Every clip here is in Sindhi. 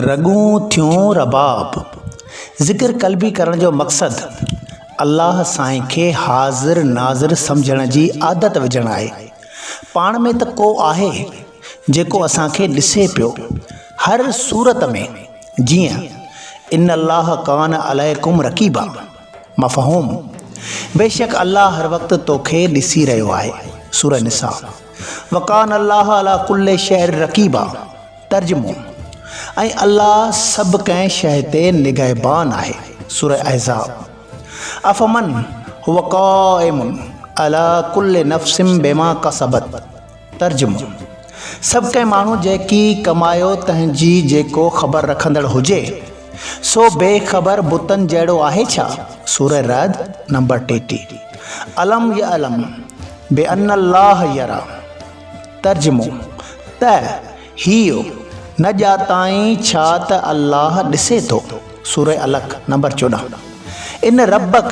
رڳون ٿيون رباب. ذڪر قلبي ڪرڻ جو مقصد الله سائين کي حاضر ناظر سمجهڻ جي عادت وجهڻ آهي. پاڻ ۾ ته ڪو آهي جيڪو اسان کي ڏسي پيو. هر صورت ۾ جيئن ان الله ڪان عليڪم رقيبا. مفهوم، بيشڪ الله هر وقت توکي ڏسي رهيو آهي، سوره نساء، وڪان الله علي ڪل شيء رقيبا، ترجمو، ۽ الله سڀ ڪنهن شيء تي نگهبان آهي، سوره احزاب، افمن هو قائم علي ڪل نفس بما ڪسبت ترجمو، سڀ ڪنهن ماڻهو جيڪي ڪمايو تنهن جي جيڪو خبر رکندڙ هجي سو بي خبر بتن جهڙو آهي ڇا؟ سوره رعد نمبر ٽيٽيهه، الم يعلم بان الله يرا ترجمو، ته هيء نه ڄاتائين ڇا ته الله ڏسي ٿو؟ سوره علق نمبر چوڏهن، ان ربّڪ،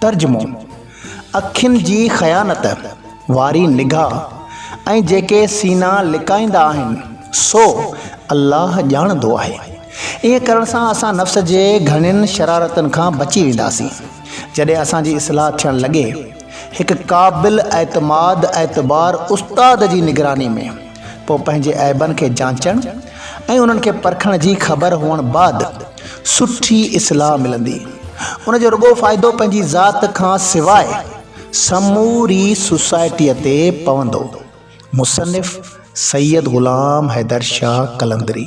ترجمو، اکين جي خيانت واري نگاهه ۽ جيڪي سينا لڪائيندا آهن سو الله ڄاڻندو آهي. ائين ڪرڻ سان اسان نفس جي گهڻين شرارتن کان بچي وينداسين. جڏهن اسان جي اصلاح ٿيڻ لڳي، هڪ قابل اعتماد اعتبار استاد جي نگراني ۾. پوء پنهنجي عيبن کي جانچڻ ۽ انهن کي پرکڻ جي خبر هئڻ بعد سٺي اصلاح ملندي. ان جو رڳو فائدو پنهنجي ذات کان سواء سموري سوسائٽيء تي پوندو. مصنف سيد غلام حيدر شاهه قلندري.